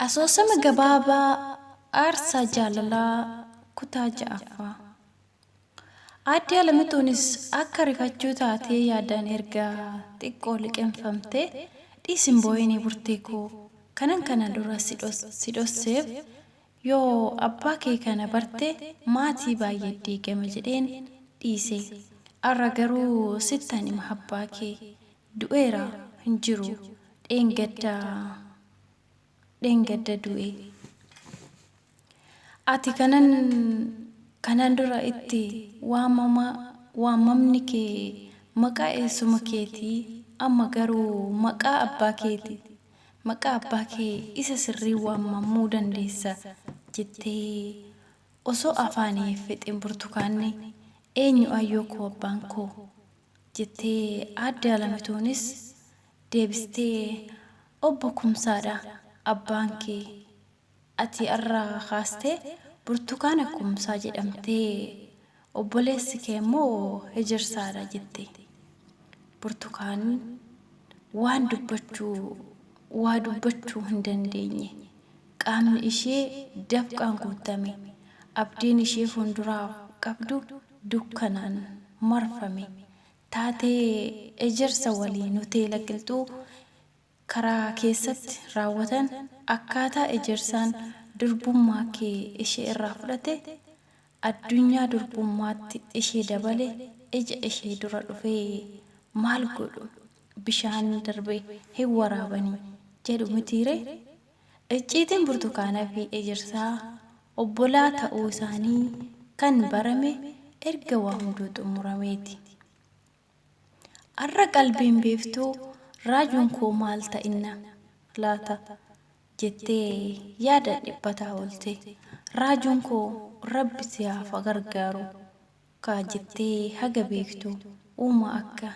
Asoosama gabaabaa Aarsaa Jaalalaa kutaa ja'affaa. Aadde Alamixuunis akka rifachuu taatee yaadaan erga xiqqoo liqimfamtee, Dhiisi hin boo'ini Burtee koo, kanan kana dura si dhosseef yoo abbaa kee kana barte maatii baay'ee diigama jedheen dhiise. Har'a garuu sittan hima abbaa kee du'eera hin jiru dheengadda du'e. Ati kanan kanaan dura itti waamamaa waamamni kee maqaa eessuma keetii, amma garuu maqaa abbaa keeti, maqaa abbaa kee isa sirrii waamamuu dandeessa jettee osoo afaanii hin fixin Burtukaanni, Eenyu Aayyoo koo abbaan koo? jettee Aadde Alamituunis deebistee Obbo Kumsaadha abbaan kee. ati arra kaaste Burtukaana Kumsaa jedhamtee obboleessi kee immoo Hejersaadha jette. Burtukaan waan dubbachuu waa dubbachuu hin dandeenye. Qaamni ishee dafqaan guuttame. Abdiin ishee fuulduraaf qabdu dukkanaan marfame. Taatee Hejersa waliin hoteela Qilxuu karaa keessatti raawwatan akkaataa ejersaan durbummaa kee ishee irraa fudhate addunyaa durbummaatti ishee dabale ija ishee dura dhufee maal godhu bishaan darbe hin waraabani jedhu mitii ree icciitiin burtukaana fi ejersaa obbolaa ta'uu isaanii kan barame erga waa hunduu xumurameeti. Arra qalbiin biiftuu raajuun koo maal ta'inna laata jettee yaadaan dhiphataa oolte. Raajuun koo Rabbi si haa fagargaaru kaa jettee haga beektu uumaa akka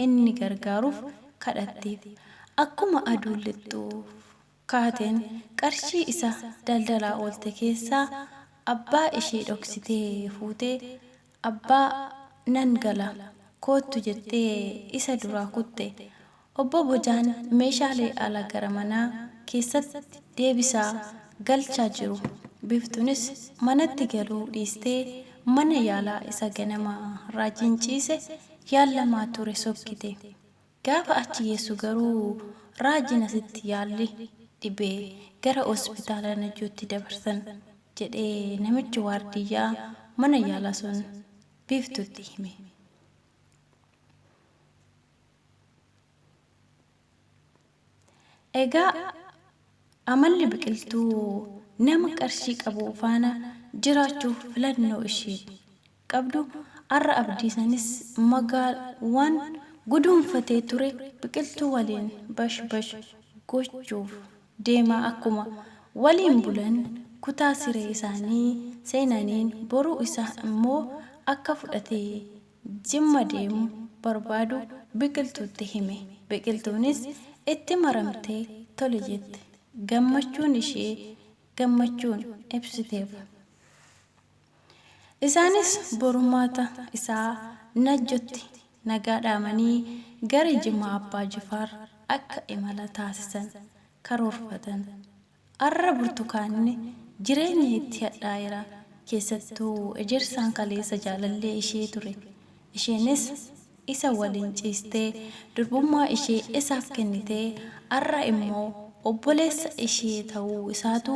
inni gargaaruuf kadhatteef. Akkuma aduun lixxuuf kaateen qarshii isa daldalaa oolte keessaa abbaa ishee dhoksitee fuutee abbaa nan gala koottu jettee isa duraa kutte. Obbo Bojaan meeshaalee ala gara manaa keessatti deebisaa galchaa jiru. Biftunis manatti galuu dhiistee mana yaalaa isa ganama raajiin ciise yaallamaa ture sokkite. Gaafa achi geessu garuu Raajiin asitti yaalli dhibee gara Hospitaala Najjootti dabarsan, jedhee namichi waardiyyaa mana yaalaa sun Biiftuutti hime. Egaa amalli Biqiltuu nama qarshii qabu faana jiraachuuf filannoo isheen qabdu har'a abdii sanis magaal waan guduunfatee ture biqiltuu waliin bash bash gochuuf deemaa akkuma waliin bulan kutaa siree isaanii seenaniin boruu isaa immoo akka fudhatee jimma deemu barbaadu biqiltuutti hime biqiltuunis itti maramtee tole jette gammachuun ishee gammachuun ibsiteef. Isaanis borummaata isaa Najjotti nagaa dhaamanii gara Jimmaa Abbaa Jifaar akka imala taasisan karoorfatan. Arra Burtukaanni jireenya itti hadhaa'eera. Keessattuu Ejersaan kaleessa jaalallee ishee ture. Isheenis isa waliin ciistee durbummaa ishee isaaf kennitee arra immoo obboleessa ishee ta'uu isaatu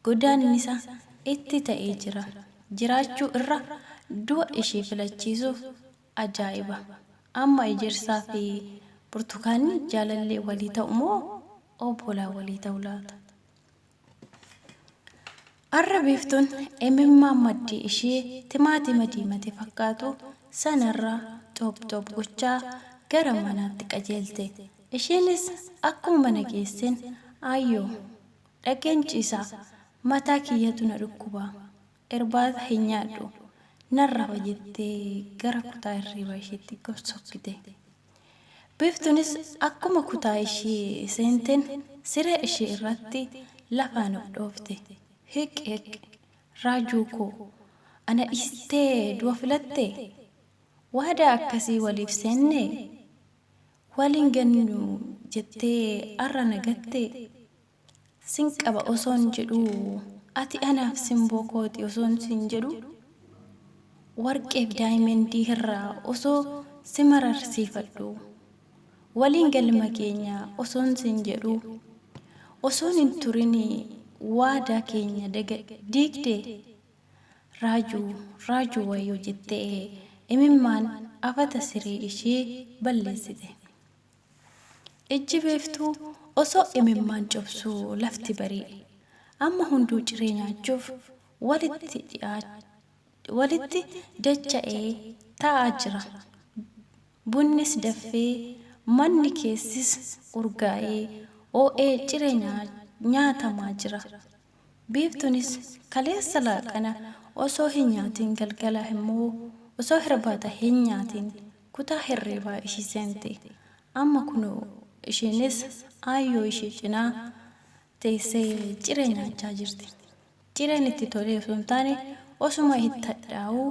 godaannisa itti ta'ee jira jiraachuu irra du'a ishee filachiisuuf ajaa'iba amma ejersaa fi burtukaanni jaalallee walii ta'u moo obbolaa walii ta'u laata? Arra biiftuun imimmaan maddii ishee timaatima diimate fakkaatu sanarra xoop xoop gochaa gara manaatti qajeelte isheenis akkuma mana geesseen ayyoo Dhaqeen ciisa. Mataa kiyyatu na dhukkuba. Irbaata hin nyaadhu. Nan rafa jettee gara kutaa hirriibaa ishiitti gad sokkite. Biiftuunis akkuma kutaa ishii seenteen siree ishii irratti lafaan of dhoofte. Hiq hiq. Raajuu koo. Ana dhiistee du'a filattee? Waadaa akkasii waliif seennee? Wal hin gannu jettee arra na gattee? Sin qaba osoon jedhuu ati anaaf simboo kooti osoon siin jedhuu? Warqeef daayimendii hirraa osoo si mararsiifadhuu? Waliin galma keenya osoon siin jedhuu? Osoon hin turin waadaa keenya diigdee? Raajuu raajuu wayoo jette ee imimmaan afata siree ishee balleessite ijji beeftuu osoo imimmaan cobsuu lafti barii amma hunduu ciree nyaachuuf walitti dhi'aa walitti dacha'ee taa'aa jira Bunnis daffee, manni keessis urgaa'ee, oo'ee ciree nyaatamaa jira. Biiftunis kaleessa laaqana osoo hin nyaatiin galgala immoo osoo hirbaata hin nyaatiin kutaa hirriibaa ishii seente. Amma kunoo ishiinis aayyoo ishii cinaa teessee ciree nyaachaa jirti. Cireen itti tolee osoo hin taane osuma itti hadhaa'uu.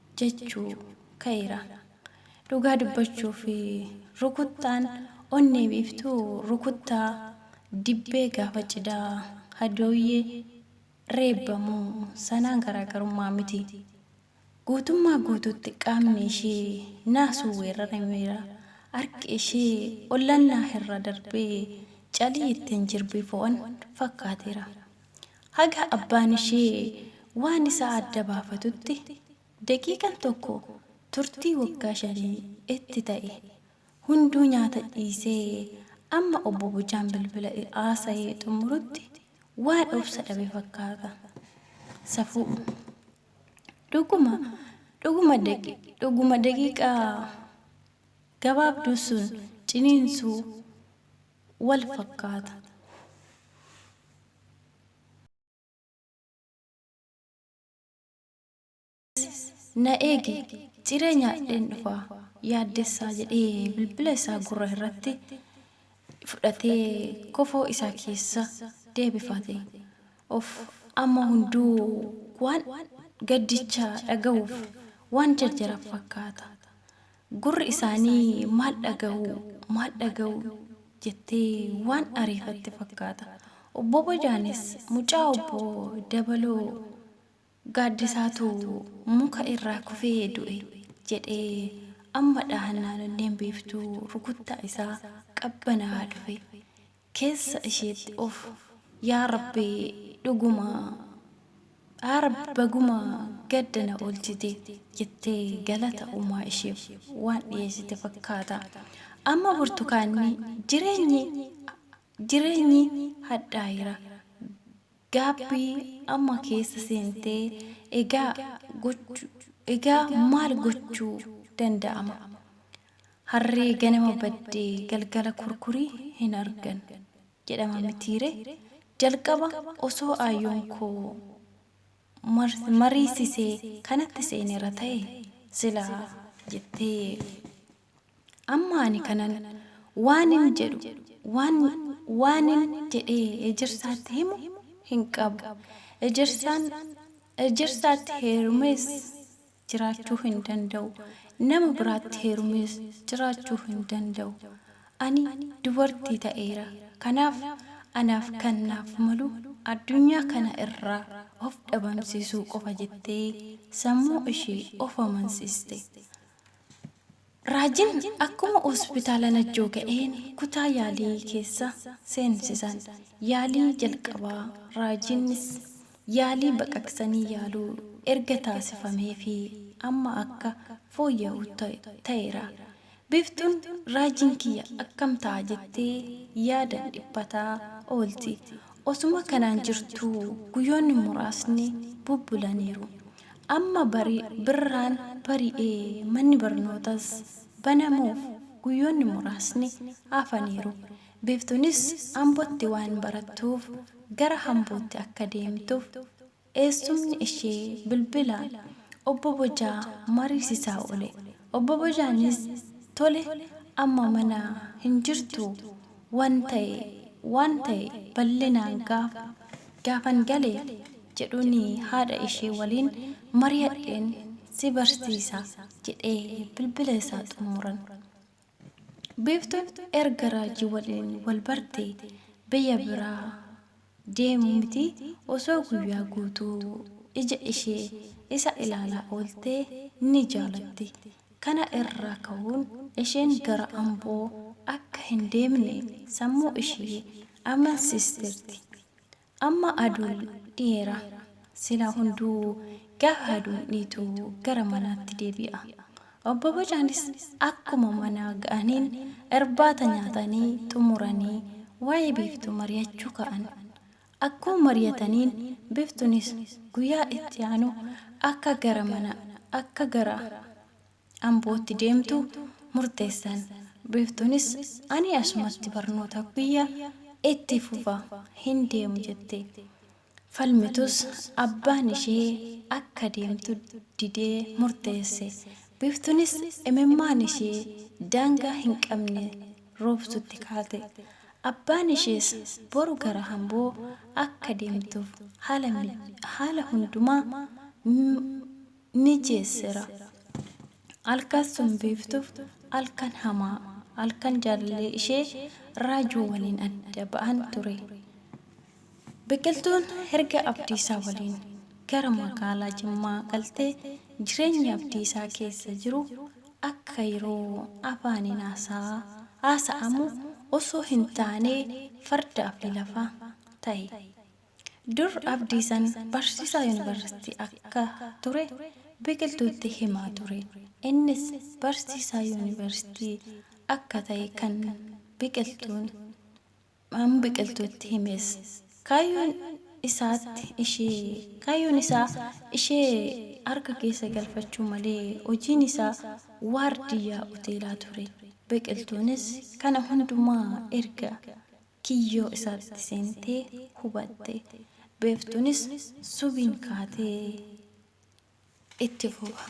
jechuu ka'eera. Dhugaa dubbachuuf rukuttaan onnee biiftuu rukuttaa dibbee gaafa cidhaa hadooyyee reebbamu sanaan garaagarummaa miti. Guutummaa guutuutti qaamni ishee naasuun weerarameera. Harki ishee ollannaa irra darbee calii ittiin jirbii fo'an fakkaateera. Haga abbaan ishee waan isaa adda baafatutti daqiiqan tokko turtii waggaa shanii itti ta'e. Hunduu nyaata dhiisee amma Obbo Bochaan bilbila haasa'ee xumurutti waan obsa dhabe fakkaata. Safuu. Dhuguma, dhuguma daqi, dhuguma daqiiqaa gabaabduu sun ciniinsuu wal fakkaata. Na eegi, ciree nyaadheen dhufa, Yaaddessaa jedhee bilbila isaa gurra irratti fudhatee kofoo isaa keessa deebifate. Of amma hunduu waan gaddicha dhagahuuf waan jarjara fakkaata. Gurri isaanii maal dhagahuu, maal dhagahuu jettee waan ariifatte fakkaata. Obbo Bojaanis mucaa obbo Dabaloo Gaaddisaatu muka irraa kufee du'e jedhee amma dhahannaan Onneen Biiftuu rukuttaa isaa qabbanaa'aa dhufe. keessa isheetti of yaa rabbi dhuguma R baguma gadda na olchite jette galata uumaa isheef waan dhiyeessite fakkaata amma burtukaanni jireenyi jireenyi hadhaayira gaabbii amma keessa seentee egaa gochu egaa maal gochuu danda'ama Harree ganama badde galgala kurkuri hin argan jedhama mitiire? Jalqaba osoo aayyoon koo mariisisee kanatti seeneera ta'e silaa jettee amma ani kanan waanin jedhu waan waanin jedhee ejersaatti himu hin qabu. Ejersaan ejersaatti heerumes jiraachuu hin danda'u. Nama biraatti heerumees jiraachuu hin danda'u. Ani dubartii ta'eera. Kanaaf anaaf kan naaf malu addunyaa kana irraa of dhabamsiisuu qofa jettee sammuu ishee of amansiste. Raajiin akkuma hospitaala Najjoo ga'een kutaa yaalii keessa seensisan. Yaalii jalqabaa Raajiinis yaalii baqaqsanii yaaluu erga taasifameefii amma akka fooyya'u ta'eera. Biiftuun Raajiin kiyya akkam ta'a jettee yaadaan dhiphataa oolti. Osuma kanaan jirtuu guyyoonni muraasni bubbulaniiru. Amma bari birraan bari'ee manni barnootas banamuuf guyyoonni muraasni hafaniiru. Biftunis Ambotti waan barattuuf gara Hambootti akka deemtuuf eessumni ishee bilbilaan Obbo Bojaa mariisisaa oole. Obbo Bojaanis tole amma mana hin jirtuu Wan ta'e, waan ta'e bal'inaan gaafa, gaafan gale jedhuuni haadha ishee waliin mariyadheen si barsiisa jedhee bilbila isaa xummuran. Biiftuun erga Raajii waliin wal bartee biyya biraa deemu miti osoo guyyaa guutuu ija ishee isa ilaalaa oolte ni jaalatti. Kana irraa ka'uun isheen gara Amboo akka hin deemne sammuu ishee amansiisteerti. Amma aduun dhiheera. Silaa hunduu gaafa aduun dhiitu gara manaatti deebi'a. Obbo Bocaanis akkuma manaa ga'aniin irbaata nyaatanii xumuranii waa'ee Biiftuu mariyachuu ka'an. Akkuma mariyataniin Biftunis guyyaa itti aanu akka gara mana akka gara Ambootti deemtu murteessan. Biiftunis ani asumatti barnoota kiyya itti fufa hin deemu jette. falmitus abbaan ishee akka deemtu didee murteesse. Biiftunis imimmaan ishee daangaa hin qabne roobsutti kaate. Abbaan ishees boru gara Amboo akka deemtuuf haala hundumaa mijeessera. Alkas sun Biiftuuf alkan hamaa, alkan jaalallee ishee raajuu waliin adda ba'an ture. Biqiltuun erga Abdiisaa waliin gara magaalaa Jimmaa galtee jireenyi Abdiisaa keessa jiru akka yeroo afaaniin haasa'aa haasa'amu osoo hin taanee farda abdi lafa tahe. Dur Abdiisan barsiisaa Yuunivarsiitii akka ture Biqiltuutti himaa ture. Innis barsiisaa Yuunivarsiitii akka tahe kan Biqiltuun Maamuu Biqiltuutti himes. Kaayyoon isaatti ishee kaayyoon isaa ishee harka keessa galfachuu malee hojiin isaa waardiyyaa hoteelaa ture. Biqiltuunis kana hundumaa erga kiyyoo isaatti seentee hubatte. Beeftuunis subiin kaatee itti fufa.